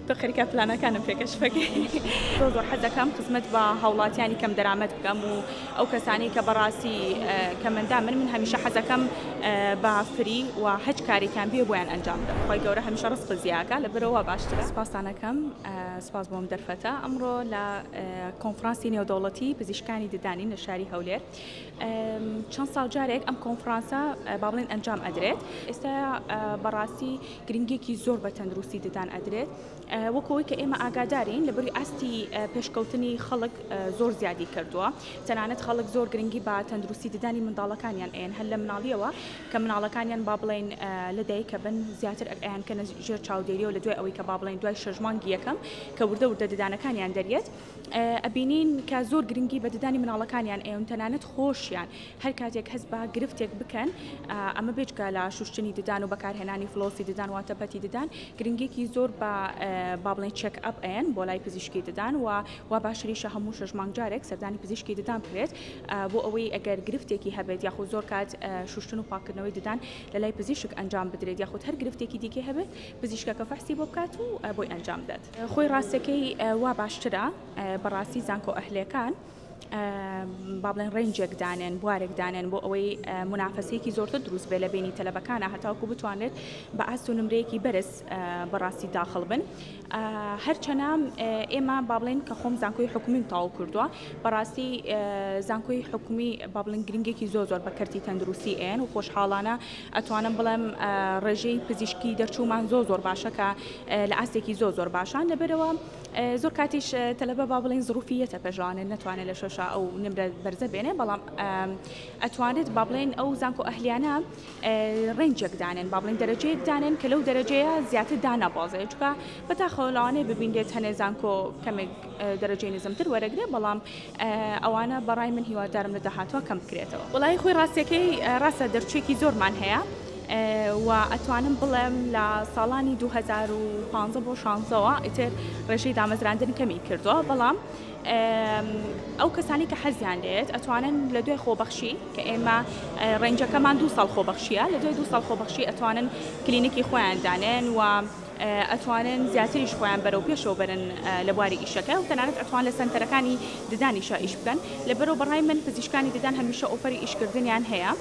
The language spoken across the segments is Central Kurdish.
تۆ خەریکە پلانەکانم پێ کەشف ئەکەی. زۆر زۆر حەز دەکەم خزمەت بە هاوڵاتیانی کەم دەرامەت بکەم و ئەو کەسانەی کە بەڕاستی کەمەندامن من هەمیشە حەزەکەم بە فری و هەچ کارێکیان بێ بۆیان ئەنجام بدەم خوای گەورە هەمیشە ڕزقت زیاکا لە برەوە باشترە. سپاستان ئەکەم سپاس بۆ ئەم دەرفەتە ئەمڕۆ لە کۆنفرانسی نێودەوڵەتی پزیشکانی ددانین لە شاری هەولێر چەند ساڵ جارێک ئەم کۆنفرانسە با بڵێن ئەنجام ئەدرێت ئێستا بەڕاستی گرنگیەکی زۆر بە تەندروستی ددان ئەدرێت وەکو ئەوەی کە ئێمە ئاگادارین لە بری ئاستی پێشکەوتنی خەڵک زۆر زیادی کردووە تەنانەت خەڵک زۆر گرنگی بە تەندروستی ددانی منداڵەکانیان ئەیەن هەر لە مناڵیەوە کە مناڵەکانیان با بڵێن لە دایکە بن زیاتر ئەیان کە ژێر چاودێریەوە لە دوای ئەوەی کە با بڵێن دوای شەژمانگی یەکەم کە وردە وردە ددانەکانیان دەریێت ئەبینین کە زۆر گرنگی بە ددانی مناڵەکانیان ئەیون تەنانەت خۆشیان هەر کاتێک هەست بە گرفتێک بکەن، ئەمە بێجگە لە شوشتنی ددان و بەکارهێنانی فلۆسی ددان واتە پەتی ددان، گرنگیەکی زۆر بە با بڵێین چێک ئەپ ئەیەن بۆ لای پزیشکی ددان و وا باشتریشە هەموو شەش مانگ جارێک سەردانی پزیشکی ددان بکرێت بۆ ئەوەی ئەگەر گرفتێکی هەبێت یاخود زۆر کات شوشتن و پاککردنەوەی ددان لە لای پزیشک ئەنجام بدرێت یاخود هەر گرفتێکی دیکەی هەبێت پزیشکەکە فەحسی بۆ بکات و بۆی ئەنجام بدات. خۆی ڕاستەکەی وا باشترە بەڕاستی زانکۆ ئەهلیەکان. با بڵێن ڕێنجێک دانێن بوارێک دانێن بۆ ئەوەی منافەسەیەکی زۆرتر دروست بێ لە بینی تەلەبەکانە هەتاوکو بتوانێت بە ئاست و نمرەیەکی بەرز بەڕاستی داخڵ بن هەرچەنە ئێمە با بڵێن کە خۆم زانکۆی حکومیم تاو کردووە بەڕاستی زانکۆی حکومی با بڵێن گرنگێکی زۆر زۆر بە کەرتی تەندروستی ئێن و خۆشحاڵانە ئەتوانم بڵێم ڕێژەی پزیشکی دەرچوومان زۆ زۆر باشەکە لە ئاستێکی زۆ زۆر باشان لەبەرەوە زۆر کاتیش تەلەبە با بڵێن زڕوفی یەتە پێژوانێت نەتوانێت لە شۆشا ئەو نمرە بەرزە بێنێ بەڵام ئەتوانێت با بڵێن ئەو زانکۆ ئەهلیانە ڕێنجێک دانێن با بڵێن دەرەجەیەک دانێن کە لەو دەرەجەیە زیاتر دانابازێت چکە بەتاخەوە لەوانەیە ببینرێت هەنێ زانکۆ کەمێک دەرەجەی نزمتر وەرەگرێ بەڵام ئەوانە بەڕای من هیوادارم لە داهاتوە کەم بکرێتەوە. وەڵایی خۆی ڕاستەکەی ڕاستە دەرچوێکی زۆرمان هەیە و ئەتوانم بڵێم لە ساڵانی دوو هەزار و پازدە بۆ شانزەوە ئیتر ڕێژەی دامەزراندن کەمی کردووە بەڵام ئەو کەسانی کە حەزیان لێت ئەتوانن لە دوای خۆبەخشی کە ئێمە ڕێنجەکەمان دوو ساڵ خۆبەخشیە لە دوای دوو ساڵ خۆبەخشی ئەتوانن کلینکی خۆیان دانێن و ئەتوانن زیاتریش خۆیان بەرەو پێشەوە بەرن لە بواری ئیشەکە و تەنانەت ئەتوان لە سەنتەرەکانی ددانیشا ئیش بکەن لەبەرو بەڕای من پزیشکانی ددان هەمیشە ئۆفەری ئیشکردنیان هەیە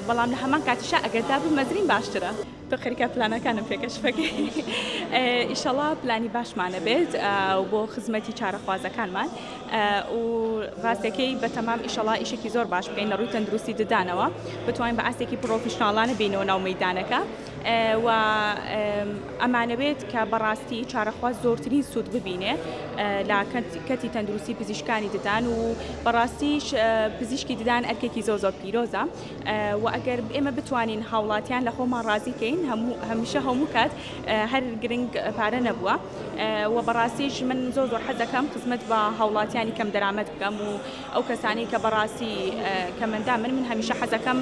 بەڵام لە هەمان کاتیشا ئەگەر دابمەزرین باشترە. تۆ خەریکە پلانەکانم پێ کەشف ئەکەی ئیشەڵا پلانی باشمانە بێت و بۆ خزمەتی چارەخوازەکانمان و ڕاستەکەی بەتەمام ئیشەڵا ئیشێکی زۆر باش بکەین لە ڕووی تەندروستی ددانەوە بتوانین بە ئاستێکی پڕۆفیشناڵانە بێینەوە ناو مەیدانەکە. و ئەمانەوێت کە بەڕاستی چارەخواز زۆرترین سوود ببینێ لە کەرتی تەندروستی پزیشکانی ددان و بەڕاستیش پزیشکی ددان ئەرکێکی زۆ زۆر پیرۆزە و ئەگەر ئێمە بتوانین هاوڵاتیان لە خۆمان ڕازیکەین هەموو هەمیشە هەموو کات هەر گرنگ پارە نەبووە و بەڕاستیش من زۆ زۆر حەزەکەم خزمەت بە هاوڵاتیانی کەم دەرامەت بکەم و ئەو کەسانەی کە بەڕاستی کەمەندان بن من هەمیشە حەزەکەم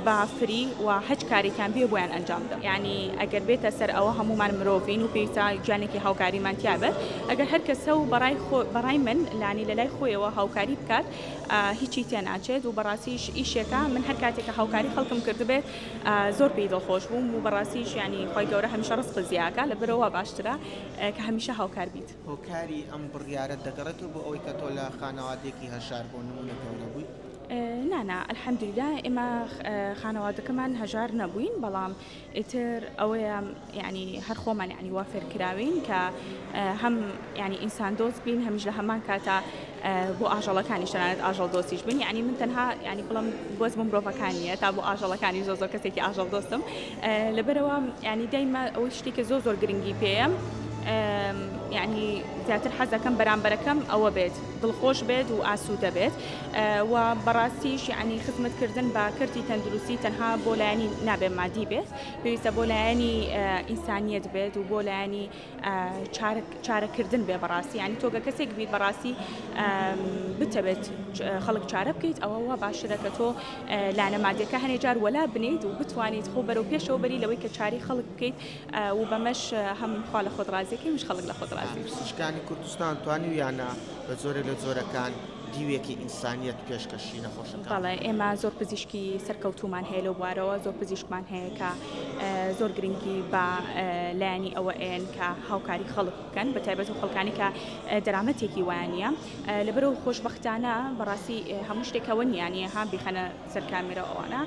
بە فری و هەچ کارێکیان بێ بۆیان ئەنجام بدەم یانی ئەگەر بێتە سەر ئەوە هەموومان مرۆڤین و پێویستە گیانێکی هاوکاریمان تیا بێت ئەگەر هەر کەسە و بەڕای خۆ بەڕای من لانی لە لای خۆیەوە هاوکاری بکات هیچی تێ ناچێت و بەڕاستیش ئیشێکە من هەر کاتێک کە هاوکاری خەڵکم کردبێت زۆر پێی دڵخۆش بووم و بەڕاستیش یانی خوای گەورە هەمیشە ڕزقت زیاکا لە برۆوە باشترە کە هەمیشە هاوکار بیت. هۆکاری ئەم بڕیارەت دەگەڕێتەوە بۆ ئەوەی کە تۆ لە خانەوادەیەکی هەژار بۆ نموونە گەورە بووی؟ نا نا الحمدللە ئێمە خانەوادەکەمان هەژار نەبووین بەڵام ئیتر ئەوەیە یعنی هەر خۆمان یعنی وا فێرکراوین کە هەم یعنی ئینسان دۆست بین هەمیش لە هەمان کاتا بۆ ئاژەڵەکانیش تەنانەت ئاژەڵ دۆستیش بن یعنی من تەنها ینی بڵم بەس بۆ مرۆڤەکان نیە تا بۆ ئاژەڵەکانی زۆ زۆر کەسێکی ئاژەڵ دۆستم لەبەرەوە ینی دایمە ئەوەی شتێکە زۆ زۆر گرنگی پێەم ینی زیاتر حەزەکەم بەرامبەرەکەم ئەوە بێت دڵخۆش بێت و ئاسوودە بێت و بەڕاستیش ینی خزمەتکردن بە کردی تەندروستی تەنها بۆ لایەنی نابێ مادی بێت پێویستە بۆ لایەنی ئینسانیت بێت و بۆ لایەنی چارە کردن بێ بەڕاستی ینی تۆگە کەسێک بیت بەڕاستی بتەبێت خەڵک چارە بکەیت ئەوە وا باشرە کە تۆ لانە مادەکە هەنێ جار وەلا بنیت و بتوانیت خۆ بەرەو پێشەوە بەری لەوەی کە چاری خەڵک بکەیت و بەمەش هەم خوا لە خۆت ڕازیەکەی مش خەڵک لە خۆت ڕازی شکانی کوردستان توانی یانە بە زۆرە لە زۆرەکان دیوێکی ئینسانیت پێشکەشی نەخۆشەکەڵێ ئێمە زۆر پزیشکی سەرکەوتومان هەیە لەو بوارەوە زۆر پزیشکمان هەیە کە زۆر گرنگی بە لایەنی ئەوە ئەیەن کە هاوکاری خەڵک بکەن بە تایبەت و خەڵکانی کە دەرامەتێکی وانە لەبەرەوە خۆشببختانە بەڕاستی هەموو شتێکەوە نیانە ها بیخەنە سەرکامێرە ئەوانە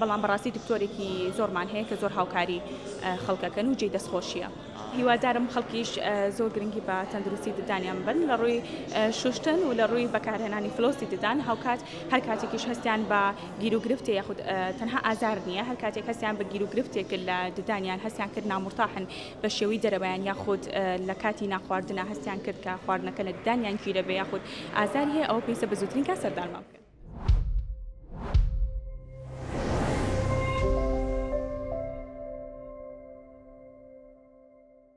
بەڵام بەڕاستی دکتۆرێکی زۆرمان هەیە کە زۆر هاوکاری خەڵکەکەن و جێ دەستخۆشیە. هیوادارم خەڵکیش زۆر گرنگی بە تەندروستی ددانیان بن لە ڕووی شوشتن و لە ڕووی بەکارهێنانی فلۆسی ددان هاوکات هەر کاتێکیش هەستیان بە گیروگرفتێ یاخود تەنها ئازار نییە، هەر کاتێک هەستیان بە گیروگرفتێک لە ددان یان هەستیان کرد نامورتاحن بە شێوەی دەرەوەیان یاخود لە کاتی نانخواردنا هەستیان کرد کە خواردنەکە لە ددانیان گیرە بێ یاخود ئازاری هەیە ئەوە پێویستە بە زووترین کات سەردانمان بکەن.